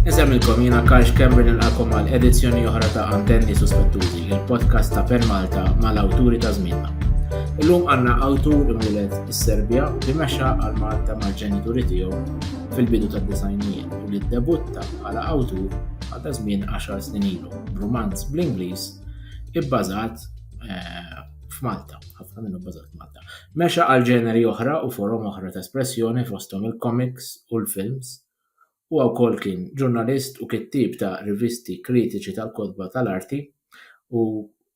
Nsemilkom jiena Karx Kember nilqakom għal edizzjoni oħra ta' Antenni Suspettużi, il-podcast ta' Pen Malta mal-awturi ta' żmienna. Illum għandna awtur imwieled is-Serbja li mexa għal Malta mal-ġenituri tiegħu fil-bidu tad-disajnijiet u li ddebutta bħala awtur għal ta' żmien 10 snin ilu b'rumanz bl-Ingliż ibbażat eh, f'Malta, ħafna minnu bbażat f'Malta. Mexa għal ġeneri oħra u forom oħra ta' espressjoni fosthom il-komiks u l-films. Huwa wkoll kien ġurnalist u kittieb ta' rivisti kritiċi tal-kotba tal-arti u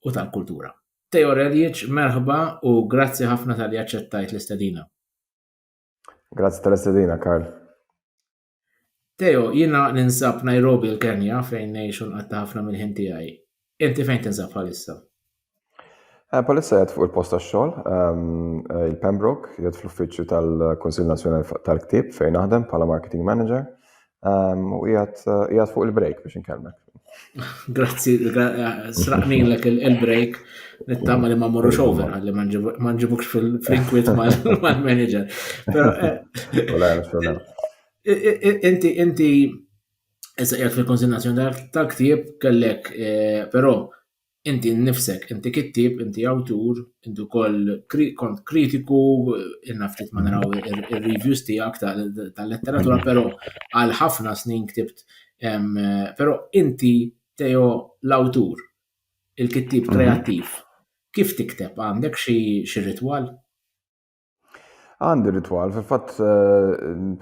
u tal-kultura. Teo Reljic, merħba u grazzi ħafna talli aċċettajt l-istedina. Grazzi tal-istedina, Karl. Teo, jiena ninsab Nairobi l-Kenja fejn ngħix u nqatta' ħafna mill-ħin tiegħi. Inti fejn tinsab bħalissa? Eh, bħalissa jgħed fuq il-post tax-xogħol, ehm, eh, il-Pembroke, jgħed fl-uffiċċju tal-Kunsill Nazzjonali tal-Ktieb fejn naħdem bħala marketing manager ehm, u jgħed eh, fuq il-break biex inkellmek. Grazzi, sraqnilek il-break, nittama li ma morru xover, għalli ma nġibux fil-inkwit mal-manager. Inti, inti, issa jgħat fil-konsignazzjoni tal-ktib kellek, eh, pero Inti nnifsek, inti kittieb, inti awtur, inti wkoll kont kritiku, inna ftit ma naraw ir-reviews tiegħek tal-letteratura, però għal ħafna snin ktibt. Però inti Teo l-awtur, il-kittieb kreattiv, kif tikteb? Għandek xi ritwal? Għandi ritwal, fil-fatt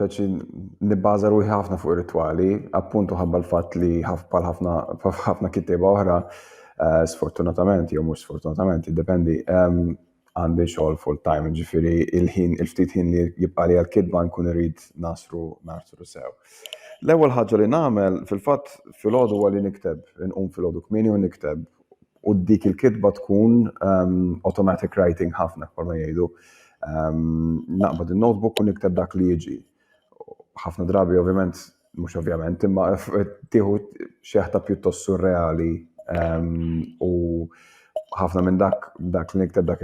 peċi nibbaża ruħi ħafna fuq ir-ritwali, appuntu ħabba l-fatt li bħal ħafna ħafna kittieba oħra, eh, sfortunatament jew mhux sfortunatament, jiddependi, ehm, għandi xogħol full time, ġifieri il-ħin il-ftit ħin li jibqa' li għall-kitba nkun irid nasru nasru sew. L-ewwel ħaġa li nagħmel fil-fatt filgħodu huwa li nikteb, inqum filgħodu kmieni u nikteb u dik il-kitba tkun um, automatic writing ħafna kol ma jgħidu. Um, naqbad il-notebook u nikteb dak li jiġi. ħafna drabi ovvjament, mux ovvjament, imma tiħu xeħta pjuttost surreali um, u ħafna minn dak dak li nikteb dak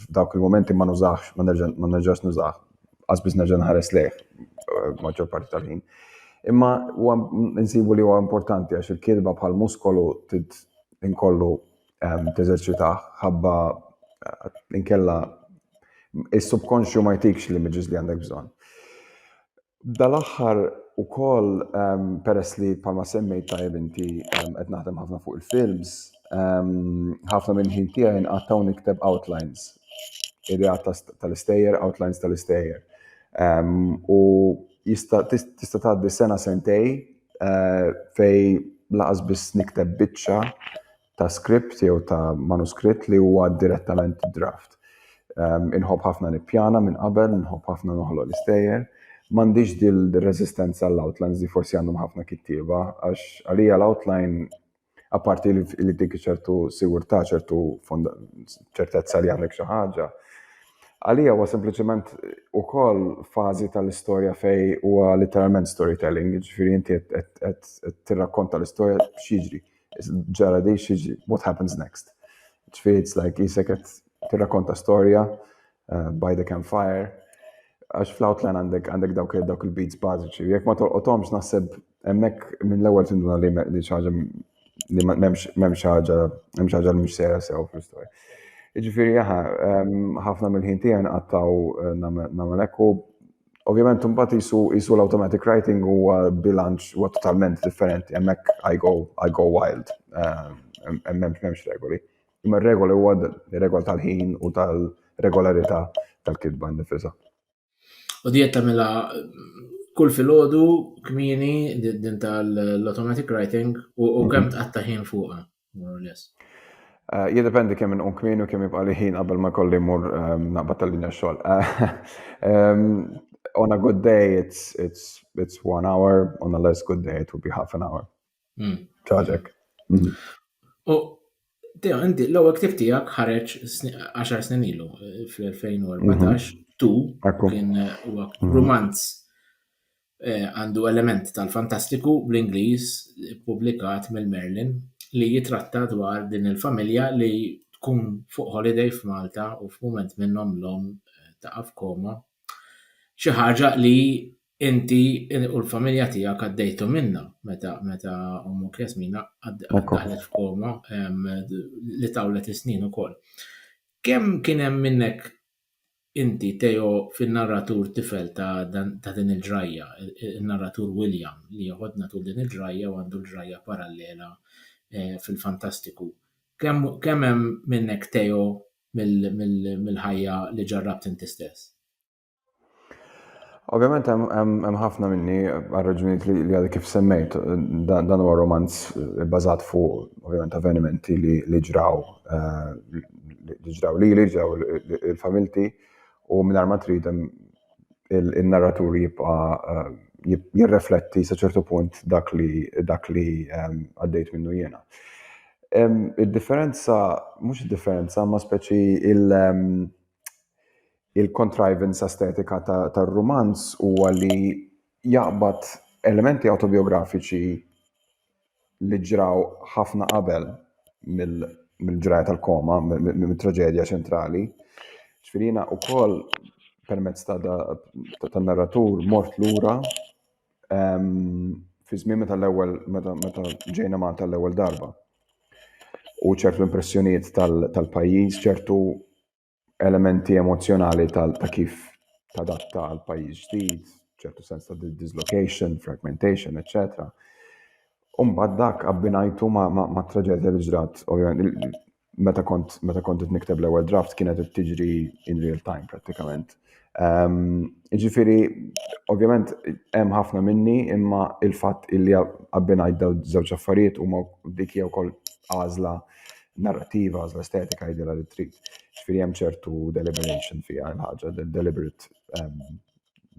dak il-momenti ma nużax, ma nerġax nużax. qasbis nerġa' nħares lejh eh, maġġor parti tal-ħin. Imma huwa nsibu li huwa importanti għax il-kirba bħal muskolu tid inkollu ehm, teżerċita ħabba eh, inkella is-subkonxju ma jtikx li miġiż li għandek bżonn. Dal-aħħar u koll ehm, peress li palma semmejt tajb inti ehm, qed naħdem ħafna fuq il-films, ħafna minn ħin tiegħi nqattaw nikteb outlines ideat tal-istejjer, outlines tal-istejjer. U tista' tgħaddi sena sentej eh, fej laqas biss nikteb biċċa ta' script jew ta' manuskritt li huwa direttament draft. Inħobb ħafna nippjana minn qabel, inħobb ħafna noħloq l-istejjer. M'għandix dil-resistenza l-outlines li forsi għandhom ħafna kittieba, għax għalija l-outline Apparti li dik ċertu sigurtà, ċertu ċertezza li għandek xi ħaġa. Għalija huwa sempliċement ukoll fażi tal-istorja fej huwa literalment storytelling, ġifieri inti qed tirrakkonta l-istorja x'jiġri, ġara di x'jiġri, what happens next. Ġifieri it's like jisek qed tirrakkonta storja Eh, by the Campfire, għax fl-outline għandek għandek dawk dawk il-beats bażiċi. Jekk ma tolqotomx naħseb hemmhekk minn l-ewwel tinduna li li ħaġa li m'hemmx ħaġa hemm ħaġa li mhux sejra sew fl-istorja. Jiġifieri jaħa, ehm, ħafna mill-ħin tiegħi nqattgħu eh, nagħmel hekk u ovvjament imbagħad isu isu l-automatic writing huwa bilanċ huwa totalment differenti hemmhekk I go I go wild. Ehm, hemmhekk m'hemmx regoli. Imma r-regola huwa regola tal-ħin u tal-regolarità tal-kitba nifisa. U dijet tamela kull fil-ħodu kmini din tal-automatic writing u mhm. kemm tqatta ħin fuqa, more or less. Eh, Jidependi kemm inqum kmini u kemm jibqa' li ħin qabel ma kolli mur ehm, naqbad tal-linja xogħol. Ehm, on a good day it's it's it's one hour, on a less good day it would be half an hour. Hmm. Ċaġek. Hmm. U Teo, inti l-ewwel ktib tiegħek ħareġ 10 snin ilu eh, fl-2014 mhm. tu kien eh, huwa mhm. romanz eh, għandu element tal-fantastiku bl-Ingliż publikat mill-Merlin li jitratta dwar din il-familja li tkun fuq holiday f'Malta u f'mument minnhom l-om taqaf koma. Xi ħaġa li Inti u l-familja tiegħek għaddejtu minnha meta meta ommok Jasmina daħlet f'koma li tawlet is-snin ukoll. Kemm kien hemm minnek inti Teo fin-narratur tifel ta' dan ta' din il-ġrajja, in-narratur William li jeħodna tul din il-ġrajja u għandu l-ġrajja parallela fil-fantastiku. Kemm kemm hemm minnek Teo mill-ħajja li ġarrabt inti stess? Ovvjament hemm ħafna minni għal-raġunijiet li għadha kif semmejt dan huwa romanz bbażat fuq ovvjament avvenimenti li ġraw eh, li ġraw li li ġraw il-familti u minn ma trid il-narratur jibqa' eh, jirrefletti sa ċertu punt dak li dak li eh, għaddejt minnu jiena. Id-differenza, mhux id-differenza, ma speċi il- il-contrivance estetika tar-rumanz huwa li jaqbad elementi autobiografiċi li ġraw ħafna qabel mill-ġraja tal-koma, mill-traġedja ċentrali. Ġifirina u koll permezz ta' narratur mort lura fi żmien meta l-ewwel meta meta ġejna Malta l-ewwel darba. U ċertu impressjonijiet tal-pajjiż, ċertu elementi emozjonali ta' kif tadatta għal pajjiż ġdid, ċertu sens ta' dislocation, fragmentation, etc. Umbad dak abbinajtu ma' traġedja li ġrat, ovvijament, meta kont meta kont qed nikteb l-ewwel draft kienet qed tiġri in real time prattikament. Ehm, ġifieri, ovvjament hemm ħafna minni imma il-fatt illi abbinajt daw żewġ affarijiet huma dik hija wkoll għażla narrativa, għażla estetika jidilha li trid. Ġifieri hemm ċertu deliberation fiha l-ħaġa, deliberate ehm,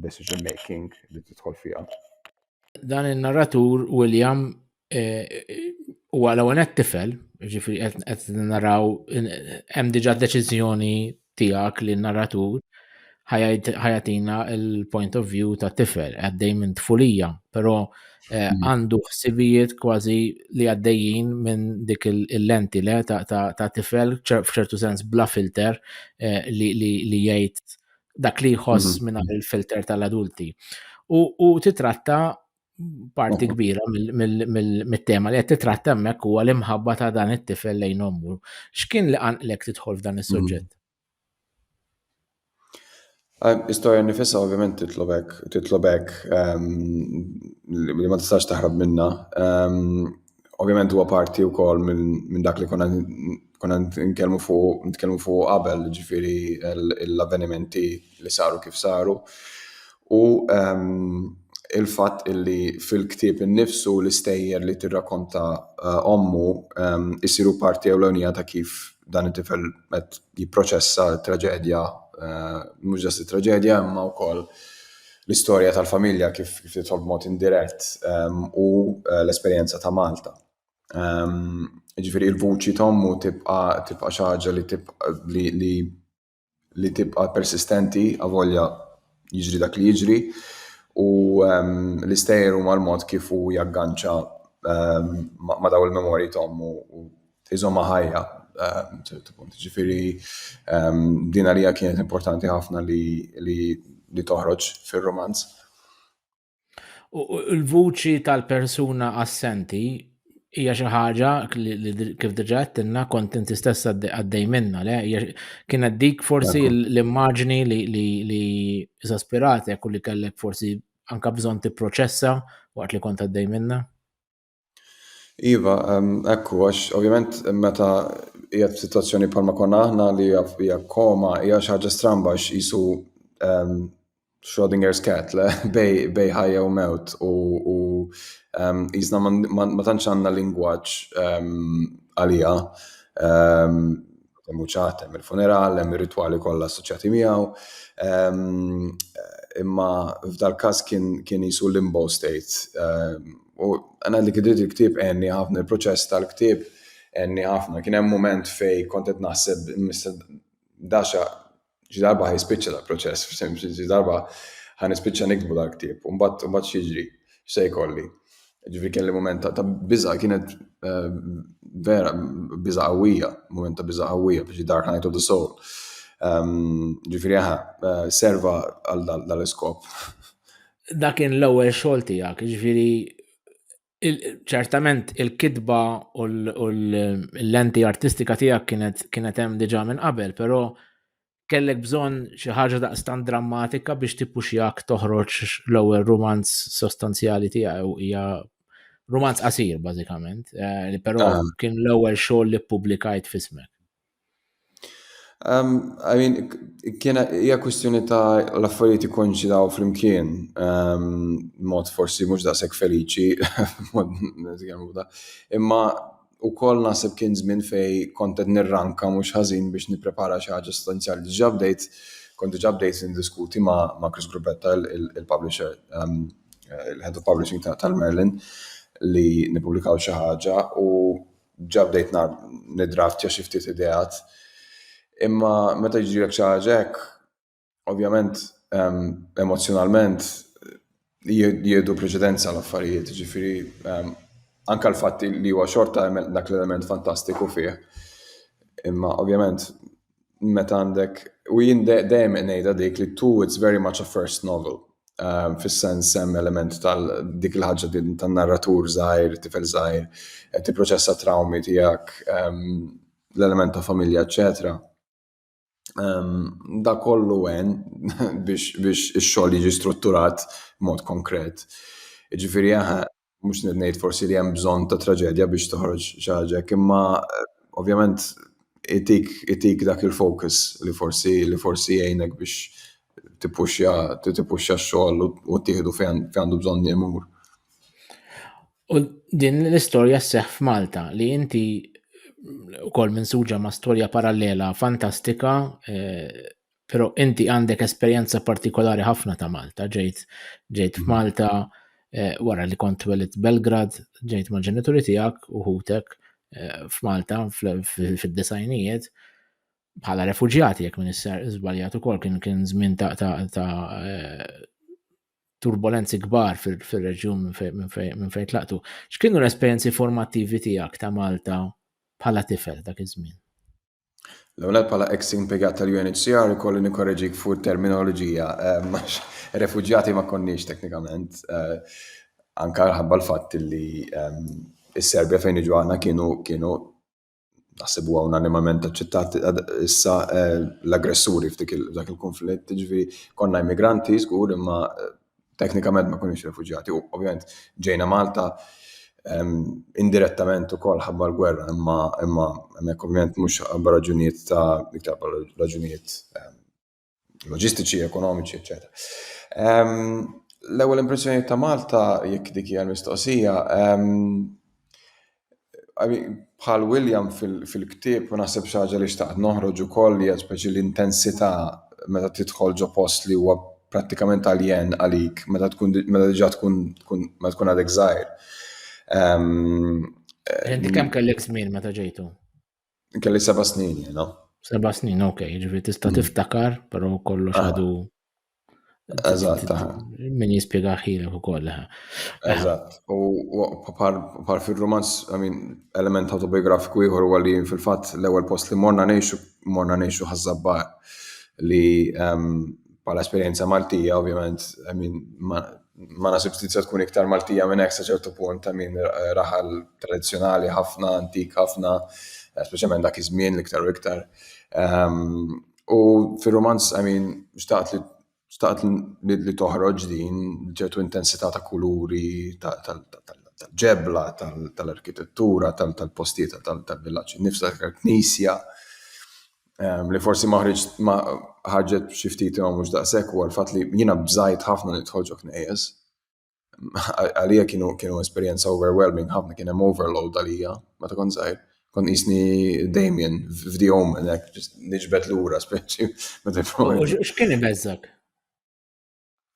decision making li tidħol fiha. Dan in-narratur William eh, huwa l-ewwel qed tifel, ġifri qed naraw hemm diġà deċiżjoni tiegħek li n-narratur ħajatina il-point of view ta' tifel għaddej minn tfulija, però eh, hmm. għandu ħsibijiet kważi li għaddejjin minn dik il-lenti le ta' tifel f'ċertu sens bla filter eh, li jgħid dak li jħoss mhm. minn il-filter tal-adulti. U titratta parti kbira mit-tema li qed titratta hemmhekk huwa l-imħabba ta' dan it-tifel lejn ommu. X'kien li qanqlek tidħol f'dan is-suġġett? Mhm. Istorja nifissa ovvjament titlobek, titlobek ehm, li ma tistax taħrab minna. Ehm, ovvjament huwa parti wkoll minn dak li konna Konna nitkellmu fuq nitkellmu fuq qabel, ġifieri l-avvenimenti li saru kif saru. U ehm, il-fatt illi fil-ktieb innifsu l-istejjer li tirrakonta eh, ommu ehm, isiru parti ewlenija ta' kif dan it-tifel qed jipproċessa traġedja, eh, mhux ġast traġedja imma wkoll l-istorja tal-familja kif kif titħol b'mod indirett ehm, u eh, l-esperjenza ta' Malta. Ġifieri l-vuċi ta' ommu tibqa' xi ħaġa li tibqa' persistenti avolja jiġri dak li jiġri u l-istejjer huma l-mod kif hu jagganċa ma' dawn il-memorji ta' ommu u jżommha ħajja sa ċertu punt. Ġifieri din għalija kienet importanti ħafna li toħroġ fir-rumanz. Il-vuċi tal-persuna assenti hija xi ħaġa li kif diġà għedtilna kont inti stess għaddej minna le kienet dik forsi l-immaġni li eżaspiratek u li kellek forsi anka bżonn tipproċessa waqt li kont għaddej minna. Iva, ekku, għax ovvjament meta hija f'sitwazzjoni bħalma konna aħna li hija koma, hija xi ħaġa stramba għax isu Schrodinger's cat le bej ħajja u mewt u jisna ma tantx għandna lingwaġġ għaliha. hemm uċat, hemm il-funeral, hemm ir-ritwali kollha assoċjati miegħu. Ehm, imma f'dal-każ kien kien jisu limbo state. Ehm, u għana li kidrit il-ktib għenni ħafna, il-proċess tal-ktib għenni ħafna. Kien hemm moment fej kontet naħseb, mista daċa Xi darba ħa jispiċċa dal-proċess, xi darba ħa nispiċċa niktbu dal-ktieb, u mbagħad mbagħad x'jiġri, x'se jkolli. Ġifieri kelli mument ta' biża' kienet eh, vera biża' qawwija, mument ta' biża' qawwija biex dark night of the soul. Ehm, ġifieri aha, eh, serva għal dal-iskop. Dakin l-ewwel xogħol tiegħek, ġifieri ċertament il-kitba u l-lenti artistika tiegħek kienet kienet hemm diġà minn qabel, però kellek bżonn xi ħaġa daqstan drammatika biex tippuxjak toħroġ l-ewwel rumanz sostanzjali tiegħu hija rumanz qasir bażikament, eh, li però ah. kien l-ewwel xogħol li ppubblikajt fismek. Um, I mean, kiena hija kwistjoni ta' l-affarijiet ikkonċidaw flimkien, um, mod forsi mhux daqshekk feliċi, imma u koll naħseb kien żmien fej kontet nirranka mhux ħażin biex nipprepara xi ħaġa sostanzjali. Diġà bdejt, kont diġà bdejt indiskuti ma', ma Chris Grubetta, il-publisher, um, il-head of publishing tal-Merlin, li nipublikaw xi ħaġa u ġa bdejt nidraftja xi ftit ideat. Imma meta jġilek xi ħaġa hekk, ovvjament ehm, emozzjonalment jiedu preċedenza l-affarijiet, ġifiri ehm, anka l-fatt li huwa xorta dak l-element fantastiku fih. Imma ovvjament meta għandek, u jien dejjem ngħidha dik li tu it's very much a first novel. Um, Fis-sens hemm element tal dik il-ħaġa tan-narratur żgħir, tifel żgħir, qed tipproċessa trawmi tiegħek, um, l-element ta' familja, eċetera. Um, da kollu għen biex, biex ix-xogħol jiġi strutturat mod konkret. Ġifieri Mhux qed ngħid forsi li hemm bżonn ta' traġedja biex toħroġ xi ħaġa imma eh, ovvjament itik, itik dak il-focus li forsi li forsi jgħinek biex tippuxja tippuxja x-xogħol u tieħdu fejn għandu bżonn jemur. U din l-istorja sseħħ f'Malta li inti wkoll minn suġa ma' storja parallela fantastika eh, Pero inti għandek esperjenza partikolari ħafna ta' Malta, ġejt ġejt mhm. f'Malta eh, wara li kont welit Belgrad, ġejt ma' ġenituri tiegħek u ħutek eh, f'Malta fid-disajnijiet bħala refuġjati jekk minn isser żbaljat ukoll kien kien żmien ta' eh, turbulenzi kbar fil-reġjun minn fejn tlaqtu. X'kienu l-esperjenzi formattivi tiegħek ta' Malta bħala tifel dak iż-żmien? L-ewwel bħala ex impjegat tal-UNHCR ikolli nikkoreġik fuq terminoloġija ehm, għax refuġjati ma konniex teknikament eh, anka ħabba l-fatt li ehm, is-Serbja fejn iġu għana kienu kienu naħseb huwa unanimament aċċettat issa eh, l-aggressuri f'dik dak il-konflitt, ġifieri konna immigranti żgur imma eh, Teknikament ma kunux refuġjati, u ovvjament ġejna Malta ehm, indirettament ukoll ħabba l-gwerra, imma imma hemmhekk ovvjament mhux ħabba raġunijiet ta' iktar raġunijiet ehm, loġistiċi, ekonomiċi, eċetera. Ehm, l-ewwel impressjoni ta' Malta jekk dik hija l-mistoqsija, bħal William fil-ktieb u naħseb xi ħaġa li xtaqt noħroġ ukoll hija speċi l-intensità meta tidħol ġo post li huwa prattikament aljen għalik meta tkun meta diġà tkun meta tkun għadek żgħir. Inti kemm kellek żmien meta ġejtu? Kelli seba' snin jiena. Seba' snin, ok, ġifieri tista' mm. tiftakar, però kollox ah. għadu. Eżatt. Ah. Min jispjega ħilek ukoll. Eh. Eżatt. U par fir-romanz, I mean, element autobiografiku ieħor huwa li fil-fatt l-ewwel post li morna ngħixu morna ngħixu ħażabba li ehm, bħala esperjenza Maltija, ovvjament, I mean, Ma naħsibx li tista' tkun iktar Maltija minn hekk sa ċertu punt ta' min raħal tradizzjonali ħafna, antik ħafna, eh, speċjalment dak iż-żmien l-iktar u iktar. Ehm, u fir-romanz, I mean, xtaqt li xtaqt li toħroġ din ċertu intensità ta' kuluri, tal-ġebla, tal-arkitettura, tal-postijiet tal-villaġġ nifsa tal-knisja. Ehm, li forsi ma ħriġ ma ħarġet xi ftit imma mhux daqshekk huwa l-fatt li jiena bżajt ħafna nidħol ġo knejjes. Għalija kienu kienu esperjenza overwhelming ħafna kien hemm overload għalija meta kont żgħir. Kont isni Damien f'Di Omen hekk niġbed lura speċi meta X'kien ibeżżak?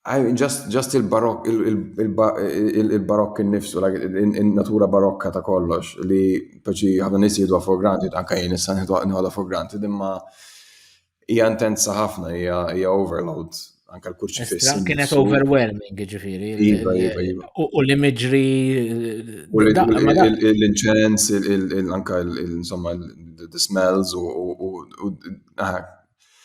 I just, just il-barok, il-barok innifsu, il-natura barokka ta' kollox, li paċi ħafna nis jidu for granted, anka jien issa nħoda for granted, imma hija intensa ħafna, hija overload, anka l-kurċi fissa. Kienet overwhelming, ġifiri. Iva, iva, iva. U li miġri. L-inċens, anka l-smells, u ah,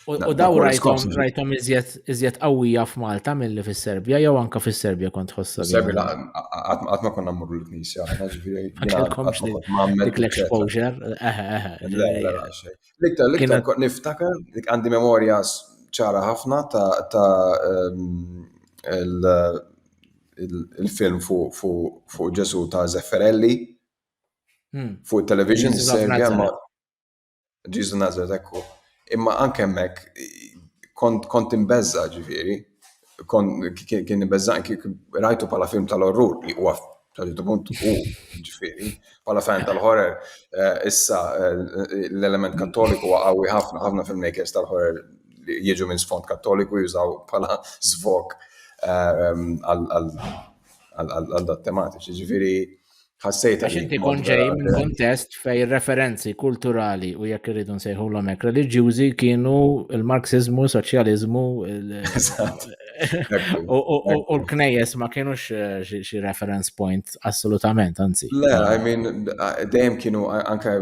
U daw rajtom rajtom iżjed qawwija f'Malta milli fis-Serbja jew anka fis-Serbja kont tħossha. Serbja qatt ma konna mmorru l-knisja aħna ġifieri. Dik l-exposure, eħe eħe. L-iktar l-iktar niftakar għandi memorja ċara ħafna ta' il-film fuq Ġesu ta' Zefferelli fuq television Serbja Ġizu Nazret ekku. Imma anke hemmhekk kont kont imbeżża ġifieri, kien imbeżża rajtu bħala film tal-orrur li huwa ċertu punt u ġifieri, bħala fan tal-horror eh, issa eh, l-element kattoliku huwa qawwi ħafna, ħafna filmmakers tal-horror li jiġu minn sfond kattoliku jużaw bħala zvok eh, għal dat tematiċi. Ġifieri ħassejt għax inti kun ġej minn kontest fej referenzi kulturali u jekk irridu nsejħulhom hekk reliġjużi kienu il-Marxizmu, soċjaliżmu u l-knejjes ma kienux eh, xi reference point assolutament, anzi. Le, I mean, dejjem kienu anke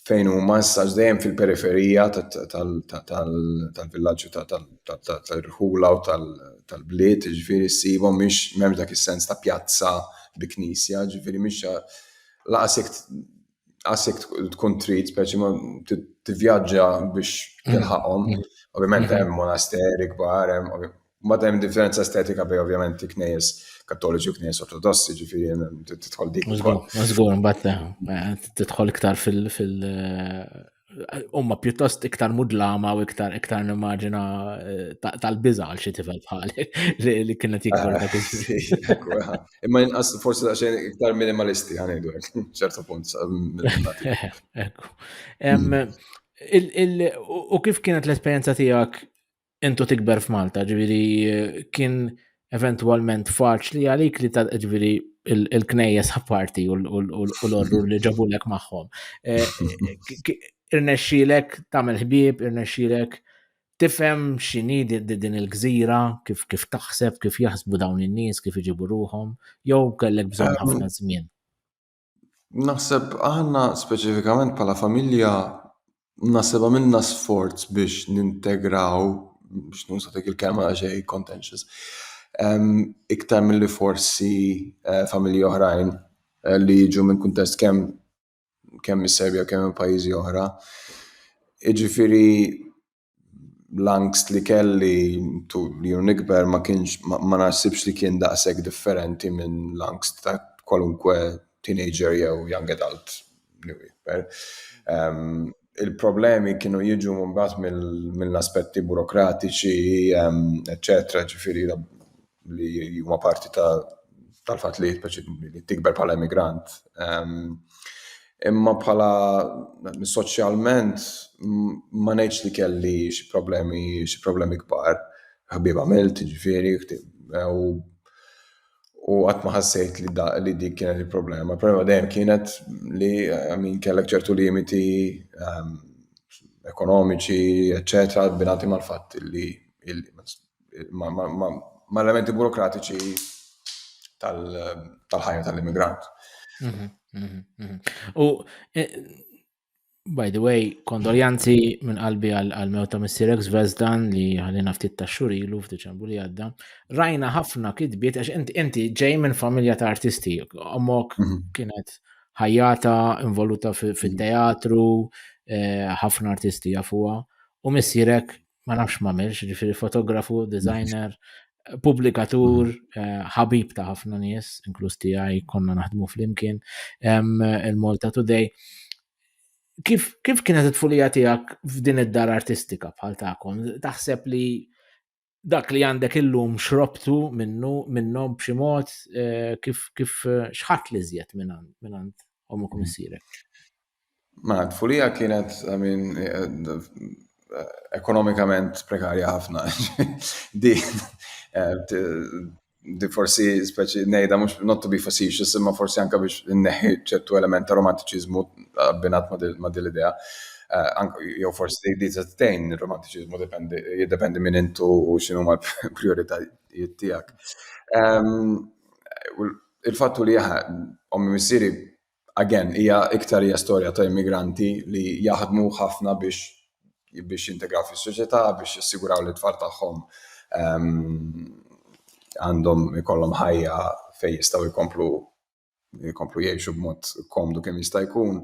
fejn huma issa dejjem fil-periferija tal-villaġġi tal-irħula u tal-bliet, ġifieri ssibhom mhix m'hemmx dak is-sens ta' pjazza bi knisja, ġifieri mhix laqas jekk laqas jekk tkun trid speċi ma tivvjaġġa biex tilħaqhom. Ovvjament hemm monasteri kbar, hemm Ma hemm differenza estetika bej ovvjament knejjes kattoliċi u knejjes ortodossi, ġifieri tidħol dik. Mażgur, mbagħad tidħol iktar fil umma pjuttost iktar mudlama u iktar iktar nimmaġina eh, tal-biża għal xi tifel bħali li kienet jikbar dak ah, Imma inqas forsi ta' xejn iktar minimalisti ħanejdu ċertu punt. Ekku. U kif kienet l-esperjenza tiegħek intu tikber f'Malta, ġviri kien eventualment faċli għalik li ta' ġviri il-knejjes apparti u l-orru li ġabulek maħħom. Eh, irnexxilek tamel ħbieb, irnexxilek tifhem x'inhi din il-gżira, kif kif taħseb, kif jaħsbu dawn in-nies, kif iġibu ruhom, jew kellek bżonn ehm, ħafna żmien. Naħseb aħna speċifikament bħala familja naħseb għamilna sforz biex nintegraw, biex nuża dik il-kelma xej contentious, iktar milli forsi familji oħrajn li jiġu minn kuntest kemm kemm mis-Serbja u kemm minn pajjiżi oħra. Jiġifieri l-angst li kelli tul li nikber ma kienx ma naħsibx li kien daqshekk differenti minn l-angst ta' kwalunkwe teenager jew young adult li jikber. Ehm, il-problemi kienu jiġu mbagħad mill-aspetti burokratiċi, ehm, eċċetera, ġifieri li huma parti tal-fatt li tikber bħala immigrant. Ehm, imma bħala soċjalment ma ngħidx li kelli xi problemi xi problemi kbar. Ħabib għamilt, ġifieri, u u qatt ma ħassejt li da li dik kienet il-problema. Problema dejjem kienet li min kellek ċertu limiti ehm, ekonomiċi, eċċetera, binati mal-fatt li ma' elementi burokratiċi tal-ħajja tal-immigrant. Mhm, mhm, mhm. U eh, by the way, kondoljanzi minn qalbi għal-mewta missirek Zvezdan li għalina ftit ta' xurilu f'Diċembru li għadda. Rajna ħafna kitbiet, għax inti ġej minn familja ta' artisti, omok kienet ħajjata involuta fil-teatru, eh, ħafna artisti jafuwa, u missirek ma nafx ma milx, ġifiri fotografu, designer, publikatur, mm. eh, ħabib ta' ħafna nies, inkluż tiegħi konna naħdmu flimkien, il-Malta Today. Kif, kif kienet it-tfulija tiegħek f'din id-dar artistika bħal tagħkom? Taħseb li dak li għandek illum xrobtu minnu minnhom b'xi mod eh, kif kif eh, xħat li żjed minn għand omukum mm. isirek? Mela, t-tfulija kienet, I mean, ekonomikament prekarja ħafna. di, eh, di forsi speċi nejda mux not to be facetious, imma forsi anka biex neħi ċertu element ta' romantiċizmu abbinat ma' dil-idea. Eh, jew forsi di tejn il-romantiċizmu jiddependi minn intu u xinu ma' prioritajiet tijak. Ehm, il-fattu li jaha, ommi missiri again, hija iktar hija storja ta' immigranti li jaħdmu ħafna biex biex jintegraw fis-soċjetà, biex jassiguraw li t-tfal tagħhom ehm, għandhom ikollhom ħajja fejn jistgħu jkomplu jkomplu jgħixu b'mod komdu kemm jista' jkun.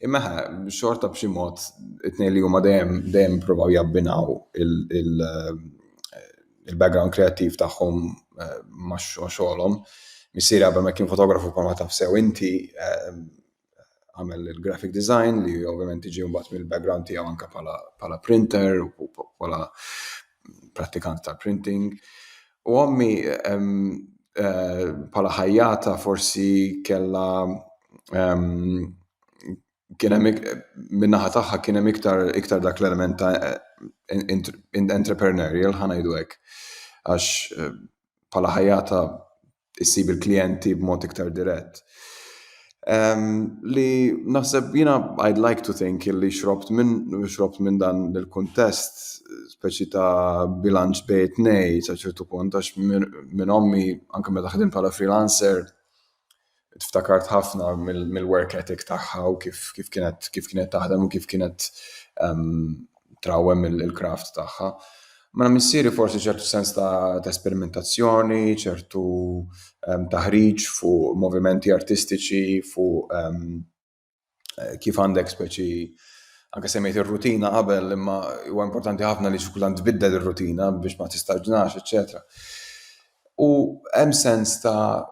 Imma xorta b'xi mod it-tnejn li huma dejjem dejjem provaw jabbinaw il- ehm, il-background kreattiv tagħhom eh, ma' xogħolhom. Missieri qabel ma kien fotografu bħalma taf sew inti eh, għamel il-graphic design li ovvjament iġi mbagħad mill-background tiegħu anke bħala printer u bħala prattikant ta' printing. U għammi eh, bħala ħajjata forsi kella kien hemm min-naħa tagħha kien hemm iktar iktar dak l-element ta' entrepreneurial ħa ngħidu hekk. Għax eh, bħala ħajjata issib il-klijenti b'mod iktar dirett. Um, li naħseb jina I'd like to think li xrobt minn xrobt minn dan il-kuntest speċi ta' bilanċ bejt nej sa ċertu punt għax minn ommi anke meta ħdim bħala freelancer ftakart ħafna mill-work ethic tagħha u kif kienet kif kienet taħdem u kif kienet ehm, trawem il-kraft tagħha. Ma mela missieri forsi ċertu sens ta' esperimentazzjoni, ċertu ehm, taħriġ fuq movimenti artistiċi, fuq ehm, eh, kif għandek speċi anke semmejt ir-rutina qabel imma huwa importanti ħafna li xkultant tbiddel ir-rutina biex ma tistaġnax, eċċetera. U hemm sens ta'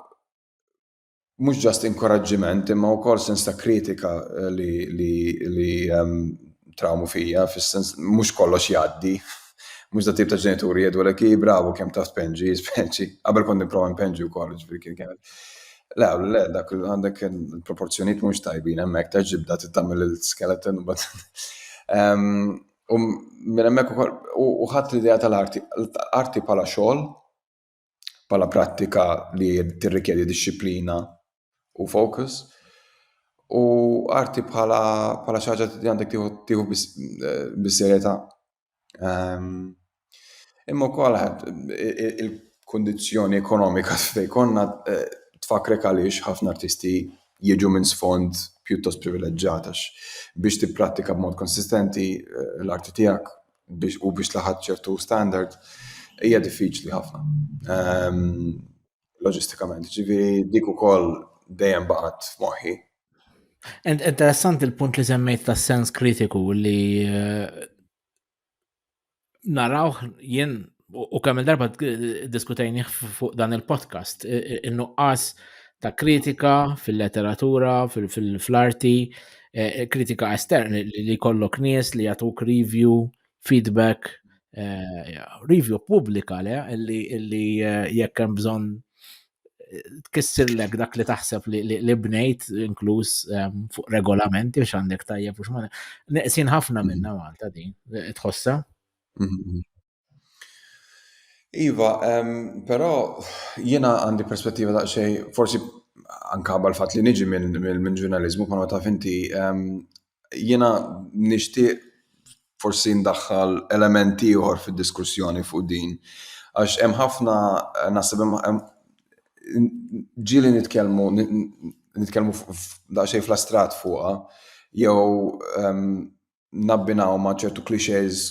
mhux ġast inkoraġġiment imma wkoll sens ta' kritika eh, li li li ehm, trawmu fija fis-sens mhux kollox jgħaddi. Mhux da tip ta' ġenituri jgħidu l bravo kemm ta' spenġi, speċi. Qabel kont nipprova npenġi wkoll, ġifieri kien kienet. Le, għallu le, dak għandek il-proporzjoniet mux tajbin, emmek ta' ġibda t-tamil il-skeleton u bat. U minn emmek u ħat l-idea tal-arti, arti pala xol, pala prattika li t-rikjedi disciplina u fokus, u arti bħala xaġa li għandek tiħu bis-serjeta. Eh, Imma wkoll il-kundizzjoni ekonomika fejn konna eh, tfakrek għaliex ħafna artisti jiġu minn sfond pjuttost privileġġat għax biex tipprattika b'mod konsistenti eh, l-arti tiegħek u biex laħat ċertu standard hija diffiċli ħafna. loġistikament. Ġifieri dik ukoll dejjem baqgħet f'moħħi. Interessant il-punt li semmejt tas sens kritiku li eh, narawh jien u kemm il-darba diskutejni fuq dan il-podcast in-nuqqas ta' kritika fil-letteratura, fil-arti, eh, kritika esterni li kollok nies li jagħtuk review feedback review pubblika le illi jekk hemm bżonn tkissirlek dak li taħseb li bnejt inkluż fuq regolamenti biex għandek tajjeb u xmane. Neqsin ħafna minna mm-hmm. Malta din, tħossa? Mm-hmm. Iva, però jiena għandi perspettiva da' xej, forsi anka bħal fat li niġi minn ġurnalizmu, kono ta' finti, jiena nixtieq forsi ndaħħal element ieħor fid-diskussjoni fuq din. Għax hemm ħafna naħseb hemm ġieli nitkellmu nitkellmu daqsxejn fl-astrat fuqha jew nabbinaw ma' ċertu clichés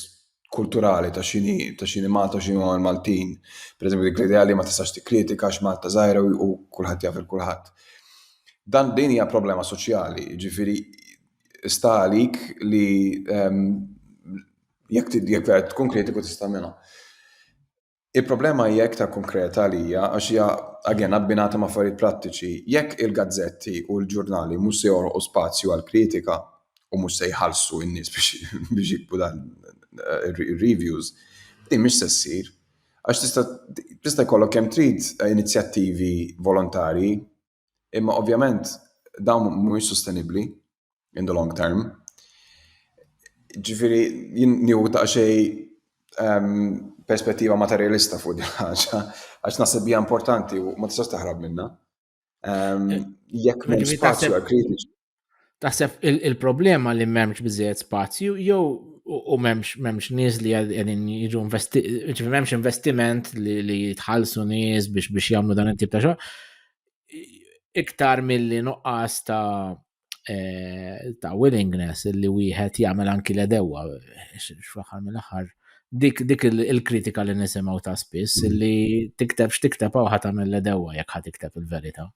kulturali ta' xini ta' xini Malta u xini huma l-Maltin. Per eżempju, dik l-idea li ma tistax tikkritika għax Malta żgħira u kulħadd jaf il-kulħadd. Dan din hija problema soċjali, ġifiri sta għalik li ehm, jekk jekk vera tkun kritiku tista' minha. Il-problema hija iktar konkreta għalija għax hija again abbinata ma' affarijiet prattiċi. Jekk il-gazzetti u l-ġurnali mhux se joħolqu spazju għall-kritika u mhux se jħallsu n-nies biex jiktbu dan ir-reviews, din mhix se ssir. Għax tista' jkollok kemm trid inizjattivi volontarji, Imma ovvjament dawn mhumiex sostenibbli in the long term. Ġifieri jien nieħu ta' xej ehm, perspettiva materjalista fuq din ħaġa, għax naħseb hija importanti u ma tistax taħrab minna. Ehm, jekk minn spazju għal kritiċi. Taħseb il-problema li memx biżejjed spazju jew u memx memx nies li għedin jiġu investiment, memx investiment li jitħallsu nies biex biex jagħmlu dan it-tip ta' xogħol. Iktar milli nuqqas ta' eh, ta' willingness li wieħed jagħmel anki l-edewa fl-aħħar mill-aħħar dik dik il-kritika li nisimgħu ta' spiss mm. li tikteb x'tikteb hawn ħadd tagħmel l-edewa jekk ħadd tikteb il-verità.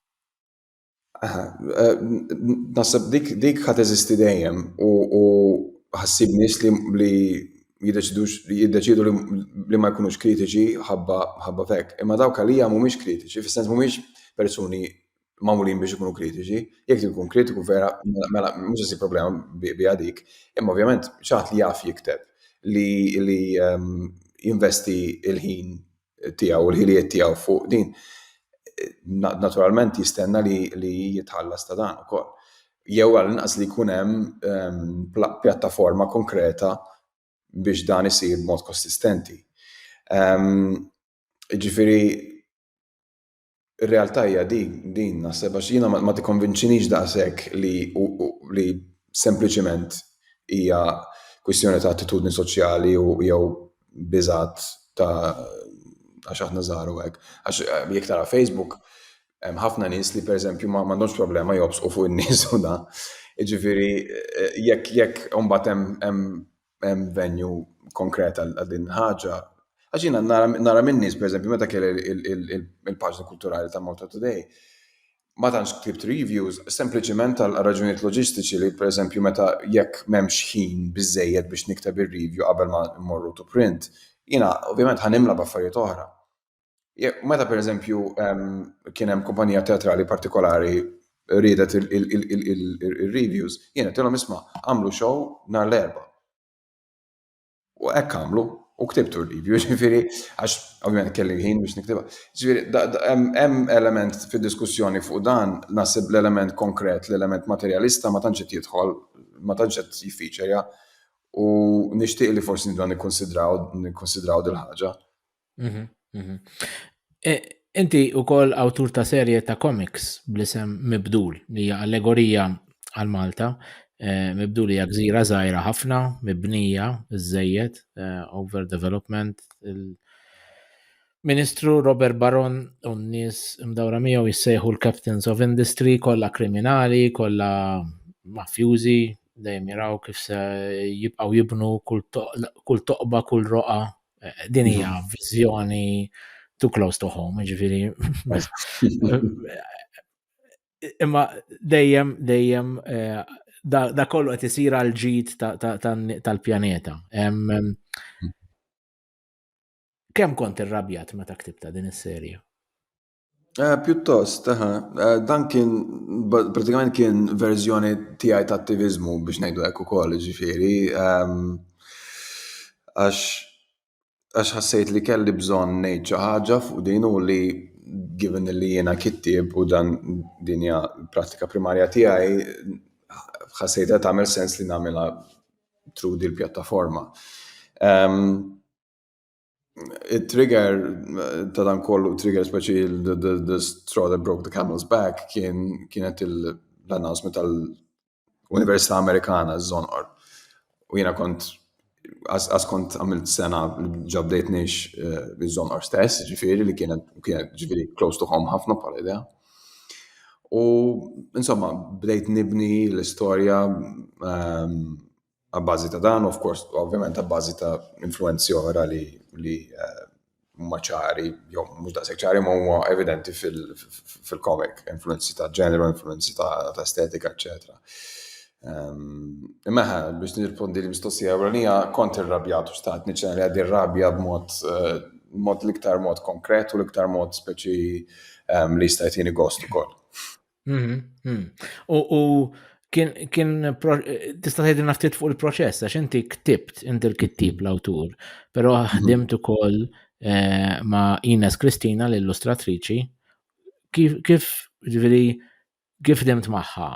Naħseb dik dik ħad eżisti dejjem u ħassib nies li li jiddeċidux li jiddeċidu li ma jkunux kritiċi ħabba ħabba fek. Imma dawk għalija mhumiex kritiċi, fis-sens mhumiex persuni magħmulin biex ikunu kritiċi, jekk tkun kritiku vera mela, mela mhux se problema biha dik, imma ovvjament xaħat li jaf jikteb li li ehm, jinvesti il-ħin tiegħu u l-ħiliet tiegħu fuq din, naturalment jistenna li, li jitħallas ta' dan ukoll. Jew għall-inqas li jkun hemm ehm, pjattaforma konkreta biex dan isir b'mod konsistenti. Ehm, ġifiri, ir-realtà hija din, din naħseb għax jiena ma tikkonvinċinix daqshekk li li sempliċiment hija kwistjoni ta' attitudni soċjali u jew biżat ta' għax aħna żaru hekk. Għax eh, jekk tara Facebook, hemm ħafna nies li pereżempju ma m'għandhomx problema jobsqu fuq in-nies u da. Jiġifieri eh, jekk jekk imbagħad hemm hemm venju konkret għal din il-ħaġa. Għax jiena nara minn nies, pereżempju, meta kelli il-paġna kulturali ta' Malta Today, ma tantx ktibt reviews, sempliċiment għal raġunijiet loġistiċi li pereżempju meta jekk m'hemmx ħin biżżejjed biex nikteb ir-review qabel ma mmorru to print, jiena ovvjament ħa nimla b'affarijiet oħra. Meta per eżempju kien hemm kumpanija teatrali partikolari ridet il-reviews, jiena tilhom isma' għamlu show nhar l-erba. U hekk għamlu, u ktibtu r-review, ġifieri, għax ovvjament kelli ħin biex niktibha. Ġifieri, hemm element fid-diskussjoni fuq dan, naħseb l-element konkret, l-element materjalista ma tantx qed jidħol, ma tantx qed jiffiċerja, u nixtieq li forsi nibda nikkonsidraw nikkonsidraw dil-ħaġa. Mhm, mhm. E, Inti u koll autur ta' serje ta' komiks bl-isem Mibdul, li hija allegorija għal Malta. Eh, Mibdul hija gżira żgħira ħafna, mibnija, żejjed, eh, overdevelopment. il- Ministru Robert Baron u n-nies mdawra miegħu jissejħu l-Captains of Industry, kollha kriminali, kollha mafjużi, dejjem jaraw kif se jibqgħu jibnu kull toq- kull toqba, kull roqa Eh, din hija mhm. viżjoni too close to home, ġifiri. Imma dejjem, dejjem, eh, da kollu qed isir għal ġid tal-pjaneta. Mhm. Kemm kont irrabjat meta ktibta din is-serja? Eh, pjuttost, eh, eh, dan kien pratikament kien verżjoni tiegħi ta' attivizmu biex ngħidu hekk ukoll, ġifieri ehm, għax għax ħassejt li kelli bżonn ngħid xi ħaġa fuq din u li given li jiena kittieb u dan din hija pratika primarja tiegħi ħassejt qed tagħmel sens li nagħmilha trudi l-pjattaforma. Ehm, il-trigger ta' dan kollu, trigger speċi the straw that broke the camel's back kien kienet l-announcement tal-Università Amerikana żonqor. U jiena kont għas kont għamilt sena ġabdejt nix eh, żonqor stess, ġifieri li kienet ġifieri close to home ħafna bħala idea. U insomma, bdejt nibni l-istorja ehm, Abbażi ta' dan, of course, ovvjament abbażi ta' influenzi oħra li li eh, huma ċari, jew mhux daqshekk ċari ma huma evidenti fil-komik, influenzi ta' ġeneru, influenzi ta' estetika, eċetera. Ehm, imma biex nirrispondi li mistoqsija ewlenija kont irrabjat u xtaqt niċċena li għaddi rabja b'mod eh, mod l-iktar mod konkret u l-iktar mod speċi ehm, li jista' jtini gost ukoll. Mhm, mhm. U u kien kien pro- tista' tgħidilna ftit fuq il-proċess għax inti ktibt inti l-kittib l-awtur, però ħdimt ukoll eh, ma' Ines Kristina l-illustratriċi. Kif kif ġifieri kif ħdimt magħha?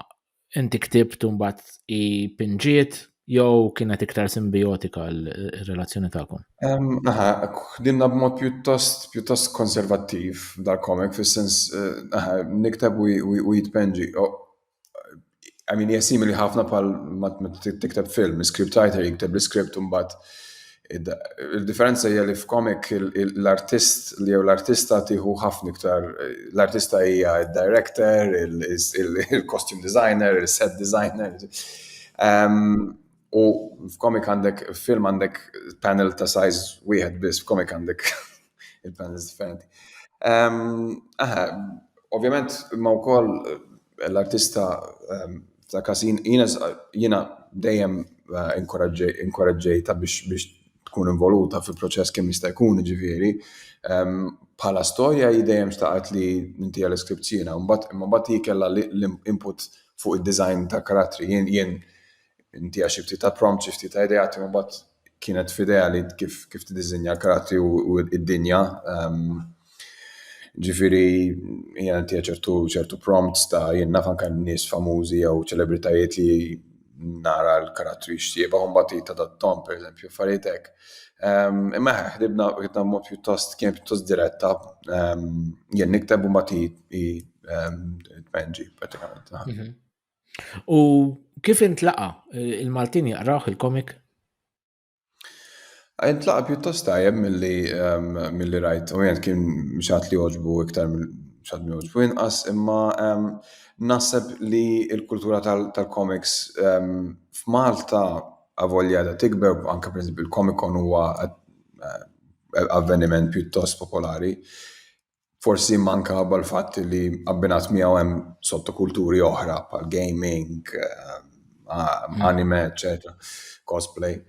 Inti ktibt u mbagħad i pinġiet Jew kienet iktar simbijotika l-relazzjoni tagħkom? Aha, ħdimna b'mod pjuttost pjuttost konservattiv dal-komik, fis-sens aha, nikteb u jitpenġi. I mean, hija simili ħafna bħal ma tikteb film, l-script writer jikteb l-script u mbagħad Il-differenza hija li f'komik l-artist li jew l-artista tieħu ħafna iktar l-artista hija d-director, il-costume designer, il-set designer. U f'komik għandek, film għandek panel ta' size wieħed biss, f'komik għandek Il-plans differenti. Aha, ovvjament ma wkoll eh, l-artista ta' kasin jiena dejjem eh, inkoraġġejta biex tkun involuta fil-proċess kemm jista' jkun ġifieri. Bħala storja hi dejjem xtaqgħet li inti għal iskript jiena, imma mbagħad hi kellha l-input fuq id-design ta' karattri. Jien Intiha xi ftit ta' prompt, xi ftit ta' ideat, imma mbagħad kienet f'idea li kif kif tiddiżinja l-karattri u d-dinja. Ehm, ġifieri hija intiha ċertu ċertu prompts ta' jien naf anke nies famużi jew ċelebritajiet li nara l-karattri x'jieba u mbagħad tadattom pereżempju affarijiet hekk. Ehm, imma ħdibna ħdibna mod pjuttost kien pjuttost diretta ehm, jien nikteb u mbagħad tpenġi pratikament. Mhm. U kif intlaqa il-Maltin jaqrawh il-komik? Intlaqa pjuttost tajjeb milli ehm, milli rajt, u jent kien xat li oġbu iktar xat li oġbu inqas, imma ehm, naħseb li il-kultura tal-komiks ehm, f'Malta avolja da tikber, anka per il-komikon huwa eh, avveniment pjuttost popolari. forsi manka bħal fatt li abbinat miegħu hemm sottokulturi oħra bħal gaming, eh, anime, etc. cosplay.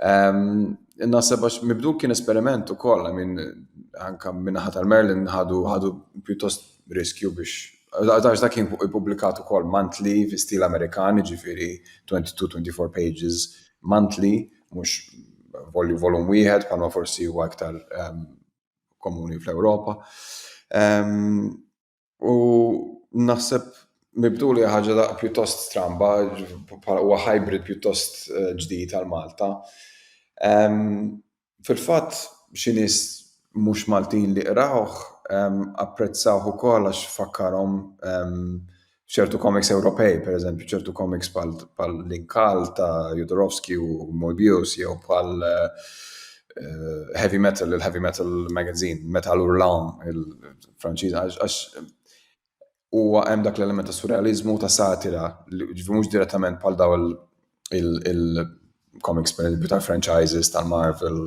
Um, Naseb għax mibdu kien esperiment u koll, minn anka minnaħa tal-Merlin ħadu ħadu pjuttost riskju biex Għax dak kien publikat ukoll monthly fi stil Amerikani ġifiri 22-24 pages monthly, mhux volum wieħed bħalma forsi huwa aktar ehm, komuni fl-Ewropa. U naħseb mibdu li ħaġa da pjuttost stramba, huwa hybrid pjuttost eh, ġdid għal Malta. Fil-fatt, xi nies mhux Maltin li qrawh apprezzawh ukoll għax fakkarhom ċertu komiks Ewropej, per eżempju, ċertu komiks pal l-inkal ta' Jodorowsky u Moebius, jew pal eh, heavy metal, il-heavy metal magazine, metal urlam, il-Franċiż, għax huwa hemm dak l-element ta' surrealizmu ta' satira, ġifi mhux direttament pal daw il-comics per eżempju tal-franchises tal-Marvel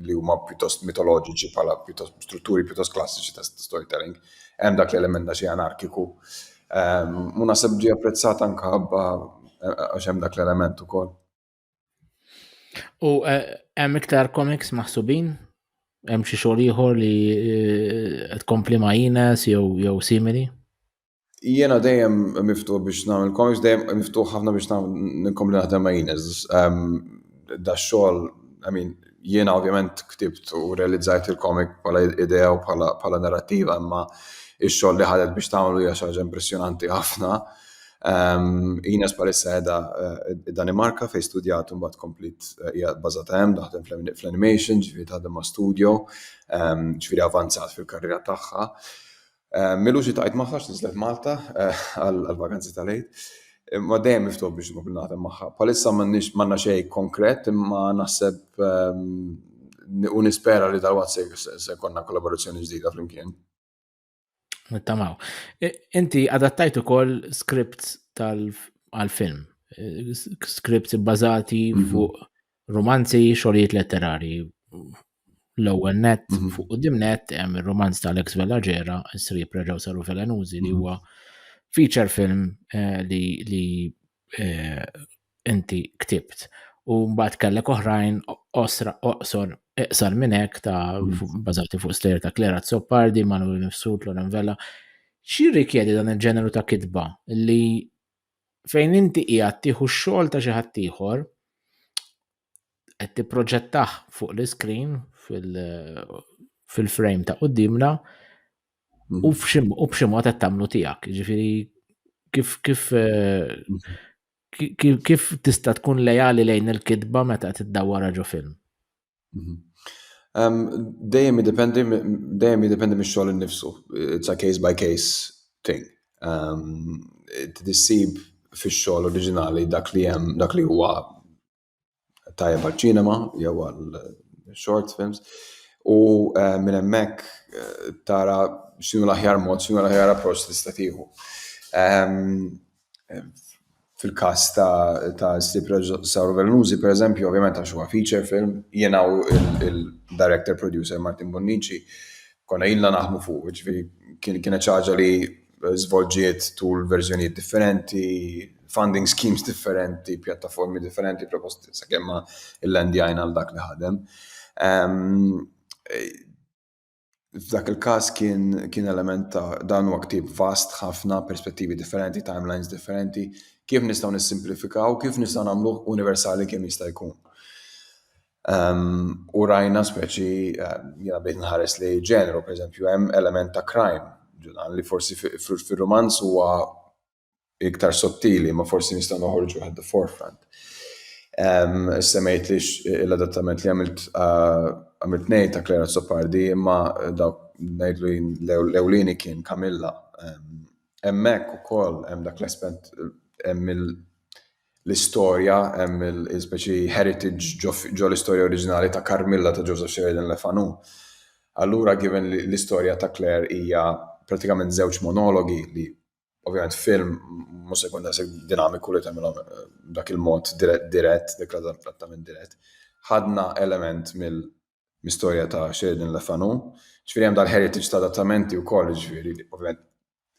li huma pjuttost mitoloġiċi bħala pjuttost strutturi pjuttost klassiċi ta' storytelling. Hemm dak l-element da xi anarkiku. Ehm, u naħseb ġi apprezzat anka ħabba eh, għax hemm dak l-element ukoll. U eh, hemm iktar comics maħsubin hemm xi xogħol ieħor li eh, tkompli ma' Ines jew jew simili? Jiena dejjem miftuħ biex nagħmel comics, dejjem miftuħ ħafna biex ninkom li naħdem ma' Ines. Da xogħol, I mean, jiena ovvjament ktibt u realizzajt il-comic bħala idea u bħala narrativa, imma ix-xogħol li ħadet biex tagħmlu hija xi ħaġa impressjonanti ħafna. Ines palissa edha id-Danimarka fejn studjat u mbagħad komplit hija bbażata hemm daħdem fl-animation, ġifieri taħdem ma' studio, ġifieri avanzat fil-karriera tagħha. Eh, Milu xi tajt magħha x'niżlet Malta eh, għall-vakanzi tal-Eid. Ma dejjem miftuħ biex nkun nagħtem magħha. Palissa m'għandna xejn konkret imma naħseb ehm, u nispera li dal-waqt se konna kollaborazzjoni ġdida flimkien. Nittamaw. Inti adattajt ukoll skript tal-film, eh, skript bbażati mhm. fuq Romanzi, xogħlijiet letterari. L-ewwel net mhm. fuq qudiem net hemm ir-romanz ta' Alex Vellaġera, s-sriep reġgħu saru Velenuzi li mhm. huwa feature film eh, li li eh, inti ktibt. U mbagħad kellek oħrajn osra oqsor iqsar minn hekk ta' mhm. bażati fuq stejjer ta' Klera Zoppardi, Manuel Nifsut, Loren Vella. Xi rikjedi dan il-ġeneru ta' kitba li fejn inti qiegħed tieħu x-xogħol ta' xi ħadd ieħor, qed tipproġettah fuq l-iskrin fil-frame ta' qudiemna u b'xi mod qed tagħmlu tiegħek. Ġifieri kif kif kif tista' tkun lejali lejn il-kitba meta qed iddawwarha ġo film? Mhm. Dejjem jiddependi dejjem jiddependi mix-xogħol innifsu. It's a case by case thing. Tissib fix-xogħol oriġinali dak li hemm dak li huwa tajjeb għaċ-ċinema jew għal short films u minn hemmhekk tara x'inhu l-aħjar mod, x'inhu l-aħjar approċċ tista' tieħu. fil-każ ta' ħsieb reġisatur Vellnużi, per eżempju, ovvjament għax huwa feature film, jiena u il-director producer Martin Bonnici konna ilna naħmu fuq, ġifieri kienet xi ħaġa li żvolġiet tul verżjonijiet differenti, funding schemes differenti, pjattaformi differenti, proposti sakemm ma il-landjajna għal dak li ħadem. F'dak il-każ kien, kien element ta' dan huwa ktieb vast ħafna, perspettivi differenti, timelines differenti, kif nistgħu nissimplifikaw, kif nistgħu nagħmlu universali kemm jista' jkun. Um, u rajna speċi, eh, jena bdejt nħares li ġeneru, per eżempju, hemm element ta' crime, ġudan li forsi fil-romanz huwa iktar sottili, ma forsi nistgħu noħorġu at the forefront. Um, Semmejt li l-adattament li għamilt uh, għamilt nejt ta' Clara Sopardi, imma dawk ngħidlu l-ewlieni kien Kamilla. Um, emmek u koll, em dak l-aspet, em l-istoria, em l-speċi heritage ġo l-istoria oriġinali ta' Carmilla ta' Joseph Sheridan Lefanu. Allura, given l-istoria ta' Claire hija pratikament żewġ monologi li Ovvjament film mhux se jkun daqshekk dinamiku li tagħmilhom eh, dak il-mod dirett, dik l-adattament dirett. Ħadna element mill-istorja ta' Sheridan Le Fanu, ġifieri hemm dal-heritage ta' adattamenti wkoll, ġifieri ovvjament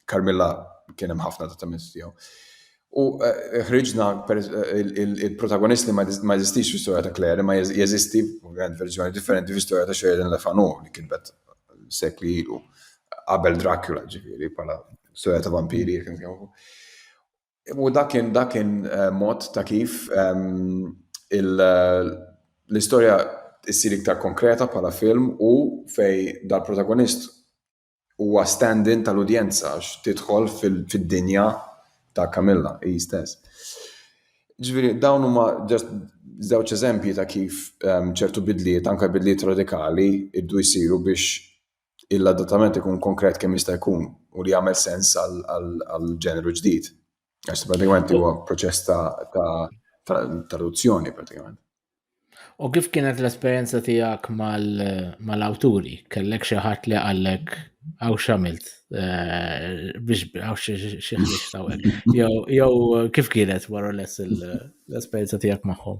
Carmilla kien hemm ħafna adattamenti tiegħu. U eh, ħriġna eh, il-protagonist li ma jeżistix fl-istorja ta' Claire, ma jeżisti verżjoni differenti fl-istorja ta' Sheridan Le Fanu li kien bet sekli ilu. Qabel Dracula ġifieri bħala storja ta' vampiri kien jafu. U dakin dakin eh, mod ta' kif ehm, l-istorja issir iktar konkreta bħala film u fej dal-protagonist huwa stand-in tal-udjenza għax tidħol fid-dinja ta' Camilla hi stess. Ġifieri dawn huma ġast żewġ eżempji ta' kif ehm, ċertu bidliet, anke bidliet radikali, iddu jsiru biex l-adattament ikun konkret kemm jista' jkun u li jagħmel sens għal ġeneru ġdid. Għax pratikament huwa proċess ta' traduzzjoni pratikament. U kif kienet l-esperjenza tiegħek mal-awturi? Kellek xi ħadd li qallek għaw xamilt eh, biex għaw xieħlix tawek. Jow kif kienet wara l-esperjenza tiegħek magħhom?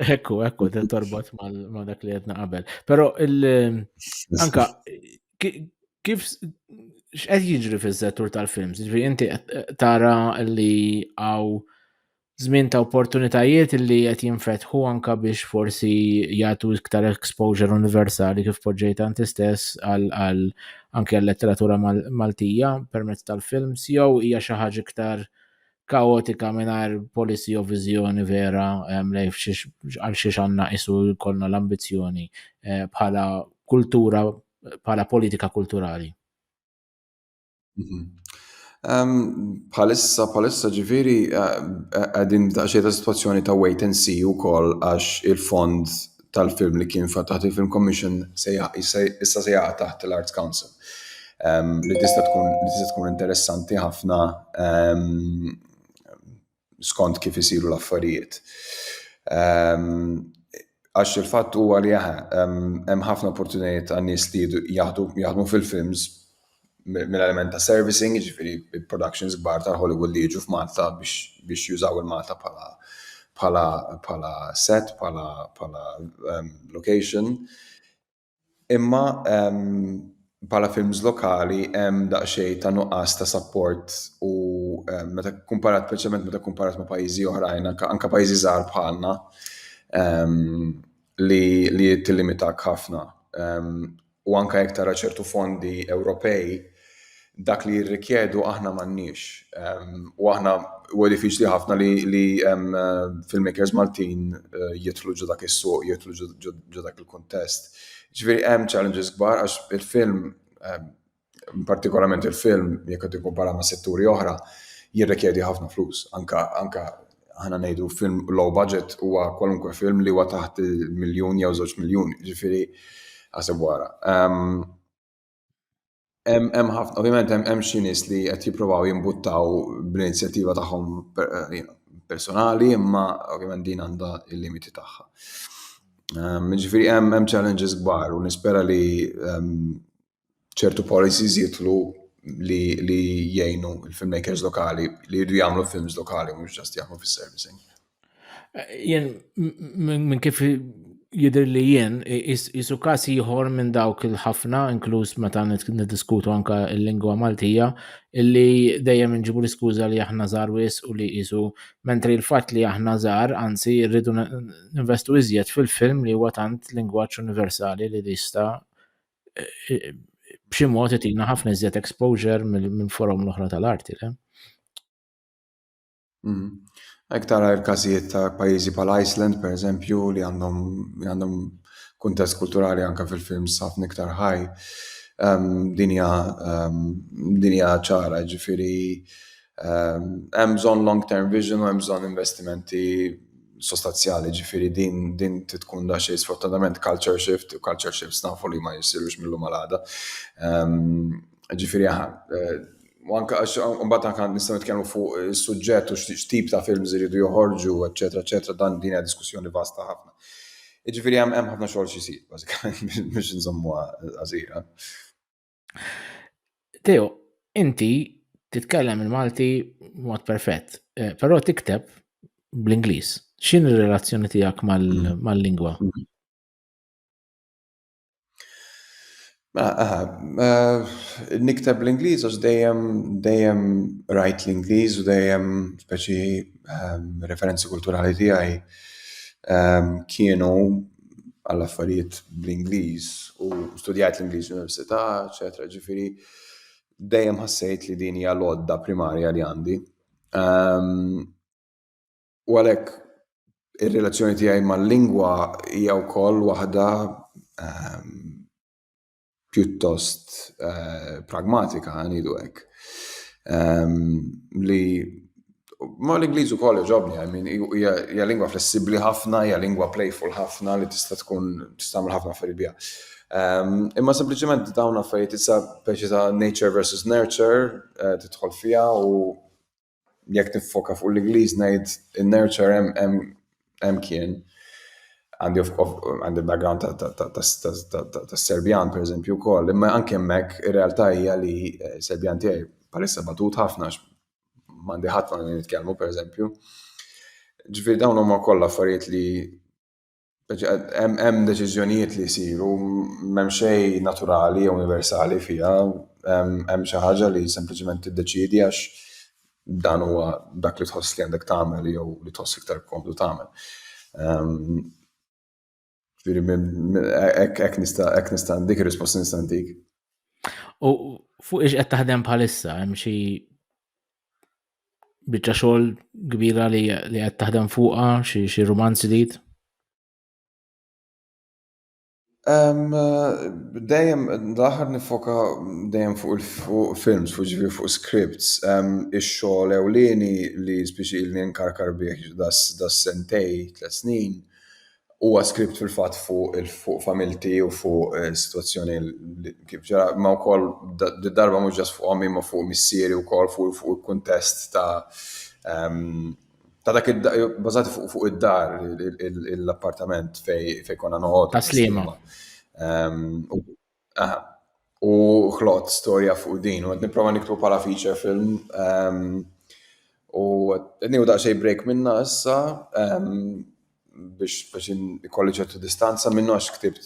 Ekku, ekku, din torbot ma dak li għedna qabel. Pero anka kif x'qed jiġri fiż-settur tal-films? Ġifieri inti tara li għaw żmien ta' opportunitajiet li qed jinfetħu anka biex forsi jagħtu iktar exposure universali kif poġġejt anti stess għal anke għal letteratura Maltija permezz tal-films jew hija xi ħaġa iktar kaotika mingħajr policy u viżjoni vera lejn għal xiex għandna isu jkollna l-ambizzjoni eh, bħala kultura bħala politika kulturali. Mhm. Palissa, palissa ġifiri, eh, eh, għedin daċċie ta' situazzjoni ta' wait and see u koll għax il-fond tal-film li kien taħt il-Film Commission issa se jaqa' taħt l-Arts Council. Ehm, li tista' tkun li tista' tkun interessanti ħafna ehm, skont kif isiru l-affarijiet. Ehm, għax il-fatt huwa li hemm ħafna opportunitajiet għan-nies li jaħdmu fil-films mill-element ta' servicing, jiġifieri productions kbar ta' Hollywood li jiġu f'Malta biex biex jużaw il-Malta bħala bħala bħala set, bħala bħala ehm, location. Imma ehm, bħala films lokali hemm daqsxejn ta' nuqqas ta' support u eh, meta kumparat preċement meta kumparat ma' pajjiżi oħrajn, anke pajjiżi żgħar bħalna ehm, li li tillimitak ħafna. Ehm, u anke jekk tara ċertu fondi Ewropej, dak li jirrikjedu aħna m'għandniex. U aħna huwa diffiċli ħafna li filmmakers Maltin jidħlu ġo dak is-suq, jidħlu ġo dak il-kuntest. Ġifieri hemm challenges kbar għax il-film partikolarment il-film, jekk qed tikkumpara ma' setturi oħra, jirrikjedi ħafna flus. Anka anka ħana ngħidu film low budget huwa kwalunkwe film li huwa taħt miljun jew żewġ miljun, ġifieri ħaseb wara. Ehm, hemm ħafna, ovvjament hemm xi nies li qed jippruvaw jimbuttaw bl-inizjattiva tagħhom eh, personali, imma ovvjament din għandha il-limiti tagħha. Ehm, ġifieri hemm hemm challenges kbar u nispera li ehm, ċertu policies jitlu li li jgħinu il-filmmakers lokali li jridu jagħmlu films lokali mhux ġast jaħmu fis-servicing. Jien minn kif jidher li jien isu każ ieħor minn dawk il-ħafna inkluż meta niddiskutu anke l-lingwa Maltija illi dejjem inġibu l-iskuża li aħna żgħar wis u li qisu mentri l-fatt li aħna żgħar anzi rridu ninvestu iżjed fil-film li huwa tant lingwaġġ universali li jista' b'xi mod qed jina ħafna iżjed exposure minn forum l-oħra tal-arti, le? Mm. Ek tara l-każijiet ta' pajjiżi bħal Iceland, per eżempju, li għandhom għandhom kuntest kulturali anke fil-films ħafna iktar ħaj. Ehm, dinja ehm, dinja ċara, ġifiri Hemm bżonn long-term vision u hemm bżonn investimenti sostanzjali, ġifieri din din tkun da xejn sfortunatament culture shift u culture shifts nafu li ma jsirux mill-lum għal għada. Ġifieri u anke għax mbagħad anke nistgħu nitkellmu fuq is-suġġett u x'tip ta' films iridu joħorġu, eċċetera, eċċetera, dan din hija diskussjoni vasta ħafna. Jiġifieri hemm ħafna xogħol xi jsir bażikament biex inżommuha qasira. Teo, inti titkellem il-Malti mod perfett, eh, però tikteb bl-Ingliż. X'in ir-relazzjoni tiegħek mm. mal-lingwa? Mm. Mela, eh, nikteb l-Ingliż għax dejjem dejjem rajt l-Ingliż u dejjem speċi ehm, referenzi kulturali tiegħi ehm, kienu għall-affarijiet bl-Ingliż u studjajt l-Ingliż l-Università, eċetera. Ġifieri dejjem ħassejt li din hija l-għodda primarja li għandi. Ehm, u għalhekk ir-relazzjoni tiegħi mal-lingwa hija wkoll waħda ehm, pjuttost eh, pragmatika, għanidu hekk. Ehm, li Ma l-Ingliż ukoll ġobni, I mean, hija lingwa flessibbli ħafna, hija lingwa playful ħafna li tista' tkun tistgħmel ħafna affarijiet biha. Ehm, imma sempliċement dawn affarijiet issa peċi ta' nature versus nurture eh, tidħol fiha u jekk niffoka fuq l-Ingliż ngħid in-nurture hemm hemm hemm kien. Għandi għandi background tas-Serbjan pereżempju wkoll, imma anke hemmhekk ir-realtà hija li eh, Serbjan tiegħi bħalissa batut ħafna m'għandi ħadd ma' nitkellmu pereżempju. Ġifieri dawn huma kollha affarijiet li Hemm deċiżjonijiet li jsiru m'hemm xejn naturali jew universali fiha, hemm xi ħaġa li sempliċement tiddeċiedi għax dan huwa dak li tħoss li għandek tagħmel jew li tħoss iktar komdu tagħmel. Hekk nista' hekk nista' dik ir-risposta nista' ntik. U fuq ix qed taħdem bħalissa hemm xi biċċa xogħol kbira li li qed taħdem fuqha xi xi rumanz ġdid? Dejjem l-aħħar nifoka dejjem fuq il-films, fuq ġifi fuq scripts, ix-xogħol ewlieni li spiċi ilni nkarkar bih das sentej, tliet snin, Huwa script fil-fatt fuq fuq familti u fuq eh, situazzjoni kif ġara, ma wkoll darba mhux ġas fuq ommi ma fuq missieri wkoll fuq fuq il-kuntest ta' ehm, ta' dak bażati fuq fuq id-dar l-appartament fej konna noqgħod. Ta' slima. Ehm, Aha. U ħloqt storja fuq din, u qed nipprova niktu bħala feature film. Ehm, u qed nieħu daqsxejn break minna issa ehm, biex biex ikolli ċertu distanza minnu għax ktibt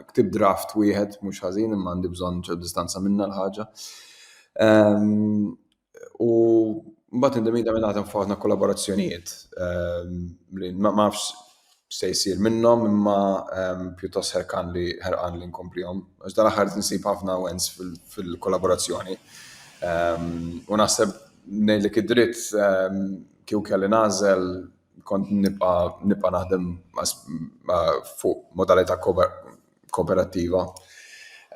ktibt draft wieħed mhux ħażin imma għandi bżonn ċertu distanza minna l-ħaġa. Ehm, U mbagħad indemita minn għadhom f'ħafna kollaborazzjonijiet ehm, li ma nafx se jsir minnhom imma ehm, pjuttost ħerqan li ħerqan li nkomplihom. Għax dan aħħar nsib ħafna wens fil-kollaborazzjoni. Ehm, u naħseb ngħidlek id-dritt kieku kelli nażel kont nibqa' naħdem fuq modalità kooperattiva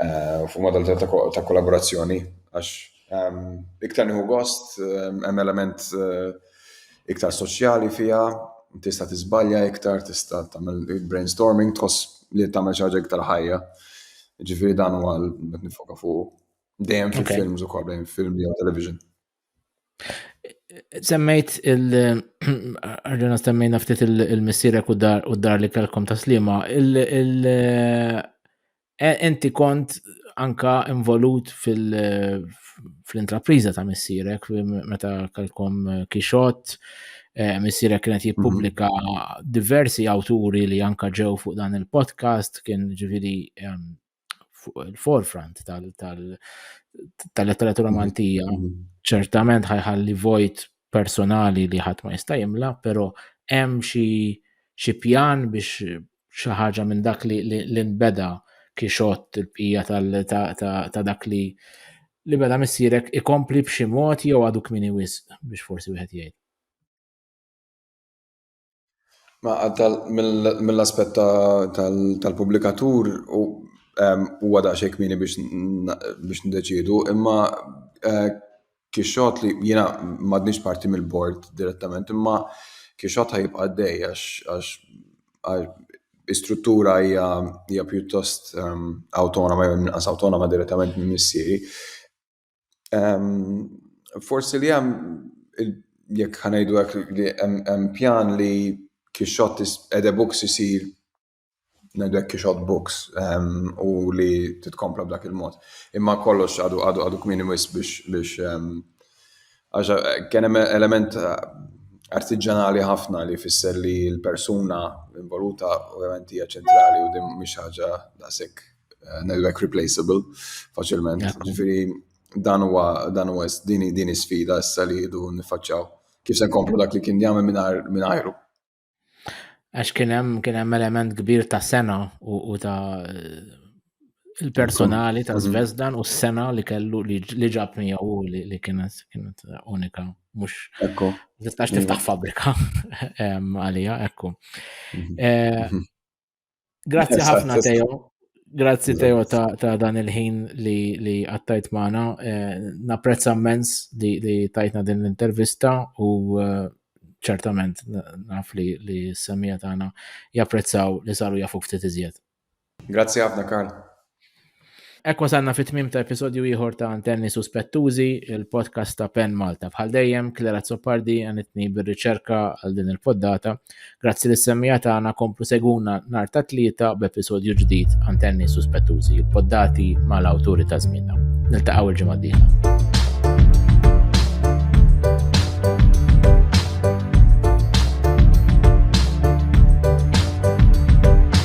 eh, fuq modalità ta' kollaborazzjoni għax ehm, iktar nieħu gost ehm, hemm element eh, iktar soċjali fiha, tista' tiżbalja iktar, tista' tagħmel brainstorming tħoss li tagħmel xi ħaġa iktar ħajja. Ġifieri dan huwa qed nifoka fuq dejjem fil-films ukoll, dejjem film jew television. Semmejt il-ħarġuna semmejna ftit il-missirek u dar u dar li kelkom ta' slima. Enti e, kont anka involut fil-intrapriza ta' missirek meta kelkom kixot. E, missirek kienet mhm. jippubblika diversi awturi li anka ġew fuq dan il-podcast kien ġivili fuq il-forefront tal-letteratura mm-hmm. Maltija. Mm-hmm. Ċertament ħajħalli vojt personali li ħadd ma jista' jimla, però hemm xi xi pjan biex xi ħaġa minn dak li nbeda kixot il-bqija ta' dak li li beda missierek ikompli b'xi mod jew għadu kmini wisq biex forsi wieħed jgħid. Mill-aspett tal-pubblikatur huwa daqsxejn kmieni biex ndeċiedu, imma Kixxot li jiena m'għadniex parti mill-bord direttament, imma Kixxot ħa jibqa' għaddej għax l-istruttura hija pjuttost awtonoma jew inqas awtonoma direttament minn missieri. Forsi li hemm jekk ħanajdu hekk li hemm pjan li kixxott ede books isir ngħidu hekk kixxott books u li titkompla b'dak il-mod. Imma kollox għadu għadu għadu kmini wis biex biex kien hemm element artiġanali ħafna li fisser li l-persuna involuta ovvjament hija ċentrali u din mhix ħaġa daqshekk eh, network replaceable faċilment. Ġifieri dan huwa dan huwa din din sfida issa li jdu nifaċċaw. Kif se nkomplu dak li kien jagħmel mingħajru. Għax kien hemm kien hemm element kbir ta' sena u ta' il-personali ta' Zvezdan u s-sena li kellu li ġab miegħu li kienet kienet unika mhux ekku tistax tiftaħ fabrika għalija ekku. Mhm. Eh, mhm. Grazzi ħafna Teo. Grazzi Teo ta' dan il-ħin li għattajt maħna. Eh, Naprezza mens li tajtna din l-intervista u eh, ċertament naf li s-semija tagħna japprezzaw li saru jafu ftit iżjed. Grazzi ħafna Karl. Hekk wasalna fit-tmiem ta' episodju ieħor ta' Antenni Suspettużi, il-podcast ta' Pen Malta. Bħal dejjem, Klara Zoppardi għanitni bir-riċerka għal din il-poddata. Grazzi lis semmija tagħna komplu seguna nhar ta' tlieta b'episodju ġdid Antenni Suspettużi, il-poddati mal-awturi ta' żmienna. Niltaqgħu il-ġimgħa d